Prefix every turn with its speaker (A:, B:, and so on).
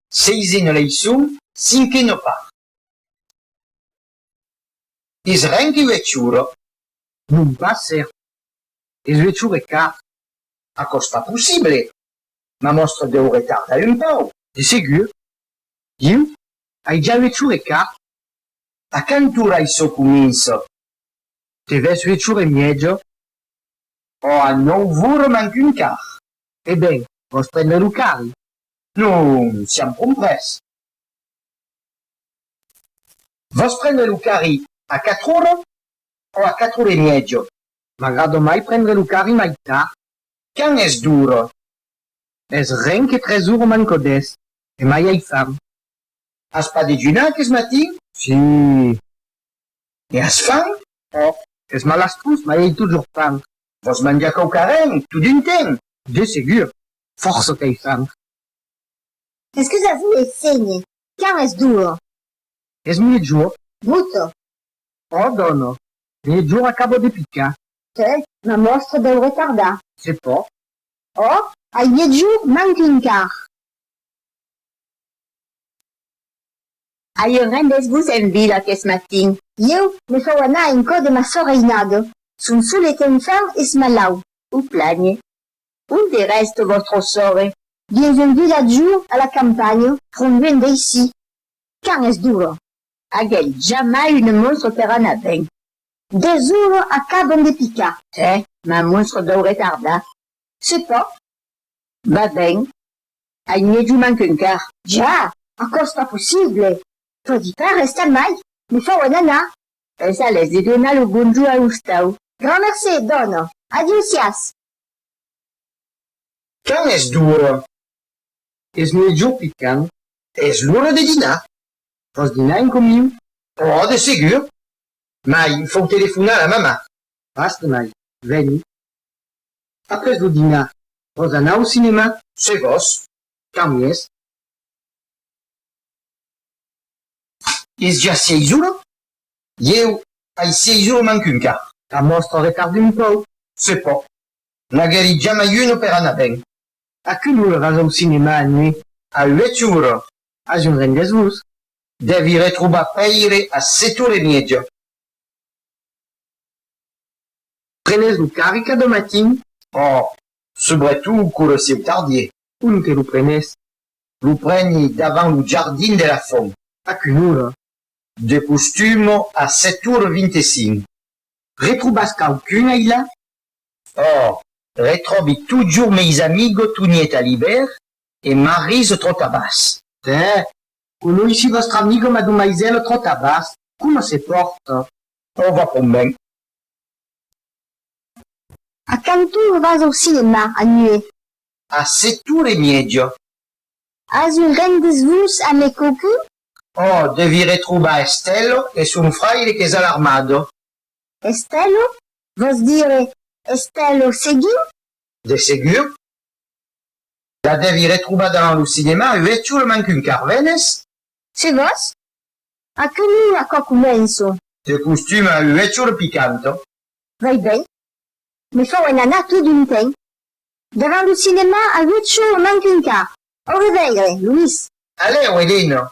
A: Seisena leiçon, cinquena part. Es ren que ue chura. Non
B: pas ser. Es ue chure car. Aquò's
A: pas possible. Ma mòstra deu retardar un pau. De segur.
B: Ieu ai ja ue chure car. A
A: quant ora aiçò comença?
B: Te ves ue chure mièja?
A: Ò a nòu vora manc un car. E ben,
B: vòs prendre lo carri. Non
A: siam comprés. Vos prendre lo carri a quatre ora o a quatre ora e mièja? M'agrada mai
B: prendre lo carri mai tard. Quand es
A: d'ora? Es
B: ren que tres ora manca dètz e mai ai fam. As
A: pas dejunar aqueth matin? Si. E as fam? Òc. Es
B: malastós, mai ai totjorn fam. Vos manjar
A: quauquarren, totun ten? De segur.
B: Fòrça qu'ei franc.
C: Es que ja voulè sénher. Quand es duo. Es
B: miègjor. Bruto.
C: Ò
B: dòna. Miègjor acabo de picar. Te ma
C: mòstre deu retardar. Se pò.
B: Ò
C: ai miègjor manc un quart.
D: Aie rendètz-vos en vila qu'es matin. Ieu me fau
C: anar en cò de ma soreinada. Son solet enfant es malau. O plànhe.
D: Onde rèste vòstre sòrre? Dins un
C: vilatjò a la campanha, pron luènh d'aicí. Quand es d'ora? Aguèt
D: jamai une monstre qu'èra naven. Desora
C: acaban de picar. Hè, ma
D: monstre deu retardar. Se pòt?
C: Ba
D: ben, ai mièju manquen car. Ja! Aquò's
C: pas possible! Pòdi pas restar mai, me fauen anar. Es a lèst de
D: donar lo bonjor a Ostau. Gran mercé,
C: dòna. Adiusiás!
A: Quand es d'ora?
B: Es mejor picant. Es l'ora
A: de dinar. Vòs dinar
B: en comiu? Òh, de segur!
A: Mai, fòu telefonar la mamà. Vast, mai,
B: veni. Après lo dinar, vòs anar au cinemà? Se vòs,
A: quand i es? Es ja seis ora? Ieu ai sei jours mancun car. La mòstra retarde
B: un pauc, se pò.
A: N'aguèri jamai un opèra anar ben. A quina
B: ora vas au cinèma a nuit? A uèch ora.
A: A junt
B: rengues-vos. Dèvi
A: retrobar Pèire a set ora e mièja.
B: Prenes lo carri ca de matin. Ò,
A: subretot quora sieu tardier. Ont que lo prenes?
B: Lo
A: preni davant lo jardin de la font. A quina ora?
B: De
A: costum a sèt ur vint e cinc. Retrobas
B: quauqu'un ailà? Òh,
A: retròbi totjorn meis amigo Toniet Alibèr e Marise Trotabàs. Tè,
B: conoissi vòstra amiga madomaisèla Trotabàs, coma se pòrta? Òh, va pònt
A: ben.
C: A quant ora vas au cinèma, a nuèit? A sèt
A: ora e mièja. As
C: un ren des vos a me cocu? Oh, devi
A: retrobar Estello e son fraire qu'es a l'armado. Estello?
C: Vos dire Estello Seguin? De segur.
A: La devi retrobar davant lo cinema, uètjo lo mancun Carvenes. Se vos?
C: A que nu a quò començo? De costuma,
A: uètjo lo picanto. Vai ben.
C: Me fau en anar tot un temps. Davant lo cinèma aguèt
A: cho
C: un an qu'enca. Au reveire, Louis. Alèu, Elena.